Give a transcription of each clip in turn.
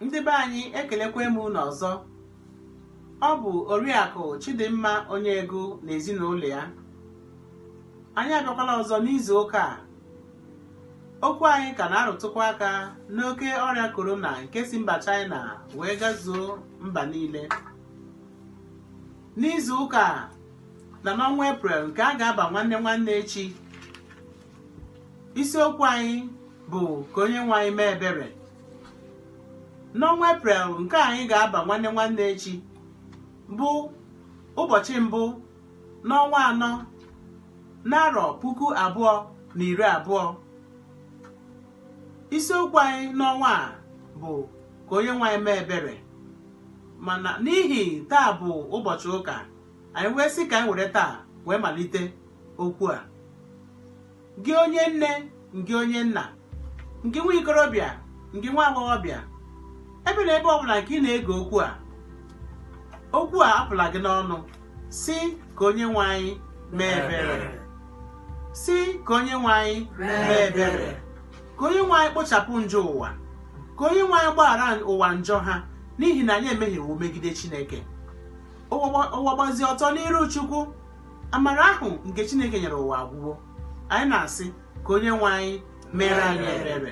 ndị be anyị ekelekwa m unu ọzọ ọ bụ oriakụ chidimma onye ego na ezinụlọ ya anyị abịakwala ọzọ n'izu ụka a okwu anyị ka na-arụtụkwa aka n'oke ọrịa korona nke si mba chaịna wee gazuo mba niile n'izu ụka a na n'ọnwa eprel nke a ga-aba nwanne nwanne echi isiokwu anyị bụ ka onye nwe anyị mee ebere N'ọnwa Eprel nke anyị ga-aba nwanne nwanne echi bụ ụbọchị mbụ n'ọnwa anọ n'arọ puku abụọ na iri abụọ. Isiokwu anyị n'ọnwa a bụ ka onye nwe anyị mee ebere mana n'ihi taa bụ ụbọchị ụka anyị wee sị ka anyị were taa wee malite okwu a gị onye nne ngị onye nna ngị nwa ikorobịa ngị nwa agbọghọbịa ebe na ebe ọbụla nke ị na-ege okwu a okwu a apụla gị n'ọnụ sị ka onye nwe anyị mee ebere ka onye nwe anyị kpochapụ njọ ụwa ka onye nwe anyị gbaghara ụwa njọ ha n'ihi na anyị emehiewo megide Chineke ụwa gbazi ọtọ n'iru Chukwu amara ahụ nke chineke nyere ụwa agwụwo anyị na-asị ka onye nwe anyị meere anyị ebere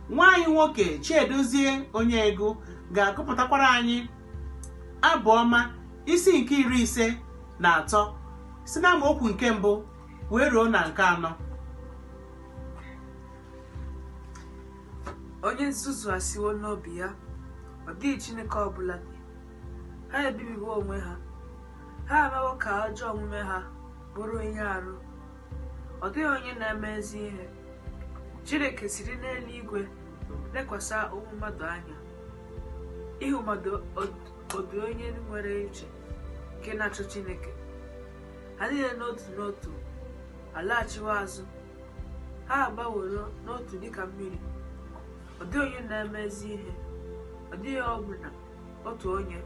nwa anyị nwoke chiedozie onye ego ga-agụpụtakwara anyị abụ ọma isi nke iri ise na atọ si na amaokwu nke mbụ wee ruo na nke anọ onye nzuzu asịwo n'obi ya ọ dịghị chineke ọbụla dị ha ebibiwo onwe ha Ha emewo ka ajọ omume ha bụrụ ihe arụ. Ọ dịghị onye na-eme ezi ihe. Chineke siri n'eluigwe lekwasị ụmụ mmadụ anya. Ịhụ mmadụ ọ dị onye nwere uche nke na-achọ Chineke. Ha niile n'otu n'otu alaghachiwo azụ. Ha agbaworo n'otu dịka mmiri. Ọ dịghị onye na-eme ezi ihe. Ọ dịghị ọbụna otu onye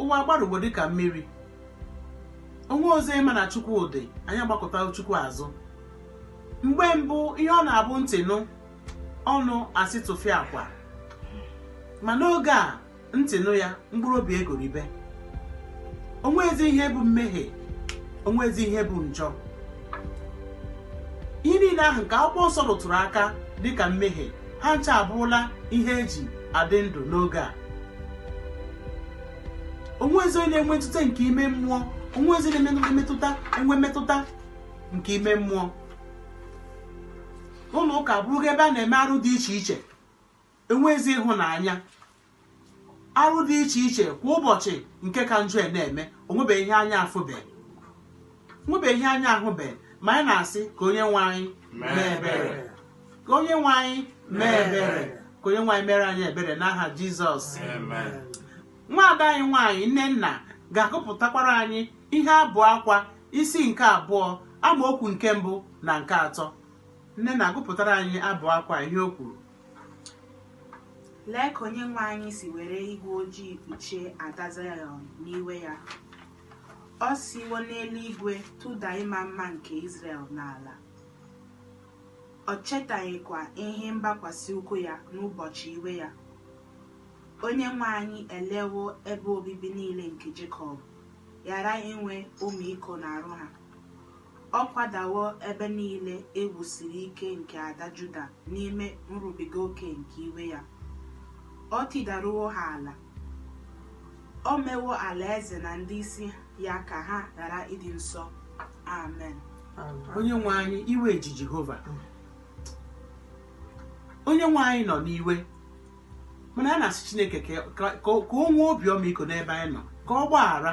ụwa agbarụgo dịka mmiri o nwerọzi ịma na chukwu dị anyị agbakụta chukwu azụ mgbe mbụ ihe ọ na-abụ ntị nụ ọnụ asị tụfịakwa ma n'oge a ntị nụ ya mkpụrụ obi egoribe onwezi ihe bụ mmehie onwezi ihe bụ njọ ihe niile ahụ nke akwụkwọ nsọ rụtụrụ aka dịka mmehie ha ncha abụrụla ihe eji adị ndụ n'oge a onwezi onye na-enwe ntụte nke ime mmụọ onwezi onye na-enwe mmetụta nke ime mmụọ ụlọ ụka abụrụgo ebe a na-eme arụ dị iche iche enweghịzi ịhụnanya arụ dị iche iche kwa ụbọchị nke ka njọ na-eme onwebeghị ihe anya afụbe nwebeghị ihe anya ahụbe ma anyị na-asị ka onye nwe anyị mee ebere ka onye nwe anyị mere anyị ebere n'aha jizọs nwaada anyị nwaanyị nnenna ga-agụpụtakwara anyị ihe abụ akwa isi nke abụọ amaokwu nke mbụ na nke atọ nnenna gụpụtara anyị abụ akwa ihe o kwuru Lee ka onye nwe anyị si were igwe ojii kpuchie ada Zayọn n'iwe ya. O siwo n'eluigwe tụda ịma mma nke Izrel n'ala. Ọ chetaghịkwa ihe mgbakwasị ụkwụ ya n'ụbọchị iwe ya. Onye nwe anyị elewo ebe obibi niile nke Jekọb, ghara inwe ọmịiko n'arụ ha. Ọ kwadawo ebe nile e wusiri ike nke ada Juda n'ime nrubiga oke nke iwe ya, o tidaruwo ha ala, o mewo ala-eze na ndi-isi ya ka ha ghara ịdị nsọ. Amen. Onyenwe anyị, iwe ji Jehova. Onyenwe anyị nọ n'iwe mana a na-asị Chineke ka ka- ka o nwee obi ọmịiko n'ebe anyị nọ ka ọ gbaghara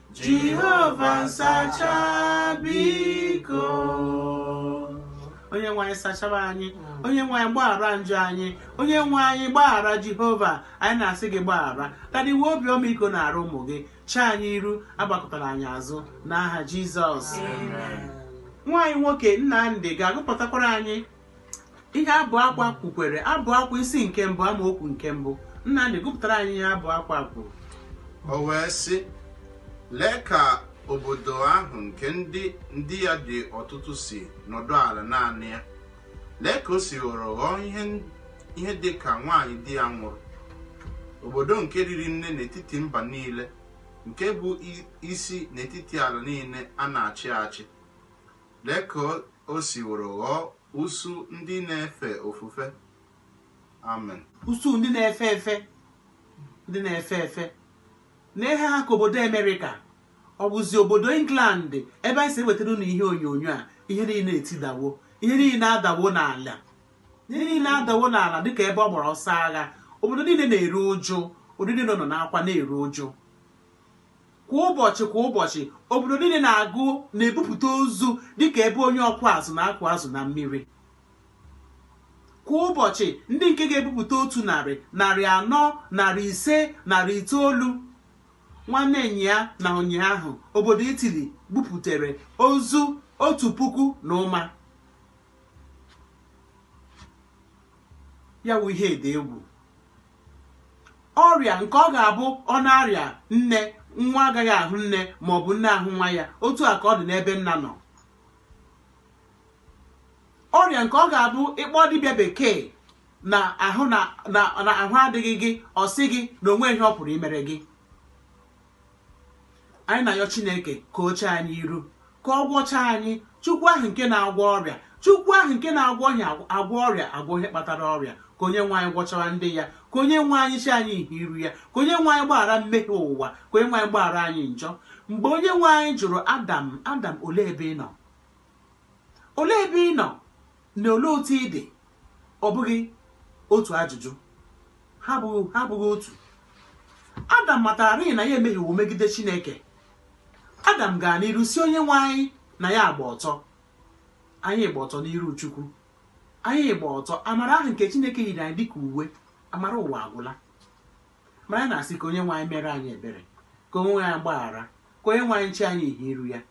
Jehova nsacha biko onye nwe anyị sachara anyị onye nwe anyị gbaghara njọ anyị onye nwe anyị gbaghara jehova anyị na-asị gị gbaghara daddy nwee obi ọmịiko n'arụ ụmụ gị chee anyị iru agbakụtara anyị azụ n'aha jizọs nwa anyị nwoke nnamdị ga-agụpụtakwara anyị ihe abụ akwa kwukwara abụ akwa isi nke mbụ amaokwu nke mbụ nnamdị gụpụtara anyị ihe abụ akwa kwuru o wee sị lee ka obodo ahụ nke ndị ndị ya dị ọtụtụ si nọdụ ala naanị ya lee ka o si ghọrọ ghọọ ihe ihe dị ka nwaanyị di ya nwụrụ obodo nke riri nne n'etiti mba niile nke bụ i- isi n'etiti ala niile a na-achị achị Lee ka o siworo ghọọ usuu ndị na-efe ofufe. Amen. Usuu ndị na-efe efe, ndị na-efe efe. Lee ha ha ka obodo America, ọ bụzi obodo England ebe anyị si ewetara unu ihe onyonyo a, ihe niile etidawo, ihe niile adawo n'ala, ihe niile adawo n'ala dịka ebe ọ gbara ọsọ agha, obodo niile na-eru uju, obodo niile nọ n'akwa na-eru uju. Kwa ụbọchị kwa ụbọchị, obodo niile na-agụ na-ebupụta ozu dị ka ebe onye ọkụ azụ na-akụ azụ na mmiri. Kwa ụbọchị, ndị nke ga-ebupụta otu narị, narị anọ, narị ise, narị itoolu. Nwanne nya na ụnyaahụ, obodo Italy buputere ozu otu puku na ụma. ya wụ ihe dị egwu ọrịa nke ọ ga-abụ ọ na-arịa nne nwa agaghị ahụ nne ma ọ bụ nne ahụ nwa ya otu a ka ọ dị n'ebe nna nọ ọrịa nke ọ ga-abụ ị kpọọ dibịa bekee na ahụ adịghị gị ọ sị gị na o nweghị ihe ọ pụrụ imere gị anyị na-ayọ chineke ka o chee anyị iru ka ọ gwọcha anyị chukwu ahụ nke na-agwọ ọrịa chukwu ahụ nke na-agwọ ihe agwọ ọrịa agwọ ihe kpatara ọrịa ka onye nwe anyị gwọchaa ndị ya ka onye nwe anyị chee anyị ihe iru ya ka onye nwe anyị gbaghara mmehie ụwa ka onye nwe anyị gbaghara anyị njọ mgbe onye nwe anyị jụrụ adam adam olee ebe ị nọ olee ebe ị nọ na olee otu ị dị Ọ bụghị otu ajụjụ. Ha abụghị ha abụghị otu. Adam matararịị na ya emehiewo megide Chineke. Adam gara n'iru sị Onyenwe anyị na ya gba ọtọ. Anyị gba ọtọ n'iru Chukwu. Anyị gba ọtọ. Amara ahụ nke Chineke yiri anyị dịka uwe. Amara ụwa agwụla. Mana anyị na-asị ka Onyenwe anyị meere anyị ebere, ka Onyenwe anyị gbaghara, ka Onyenwe anyị chee anyị ihe iru ya.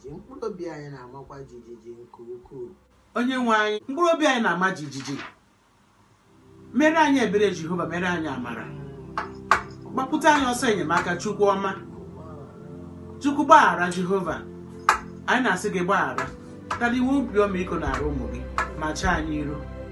ji mkpụrụ obi anyị na-amakwa jijiji nke ukwuu onye nwe anyị mkpụrụ obi anyị na-ama jijiji meere anyị ebere jehova meere anyị amara gbapụta anyị ọsọ enyemaka chukwu ọma chukwu gbaghara jehova anyị na-asị gị gbaghara tara iwe obi ọmịiko n'arụ ụmụ gị ma chee anyị iru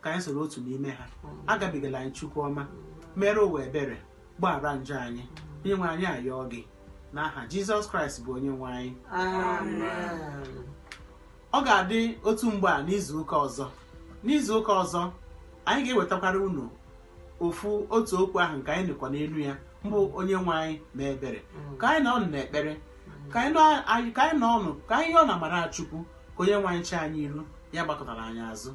ka anyị soro otu n'ime ha agabigala anyị chukwu ọma meere ụwa ebere gbaghara njọ anyị onye nwe anyị ayọọ gị n'aha jizọs kraịst bụ onye nwe anyị Amen. ọ ga-adị otu mgbe a n'izu ụka ọzọ n'izu ụka ọzọ anyị ga-ewetakwara unu ofu otu okwu ahụ nke anyị nọkwa n'elu ya mbụ onye nwe anyị mee ebere ka anyị nọ n'ekpere ka anyị nọ anyị- ka anyị nọ ọnụ ka anyị yọọ n'amara chukwu ka onye nwe anyị chee anyị iru ya agbakụtala anyị azụ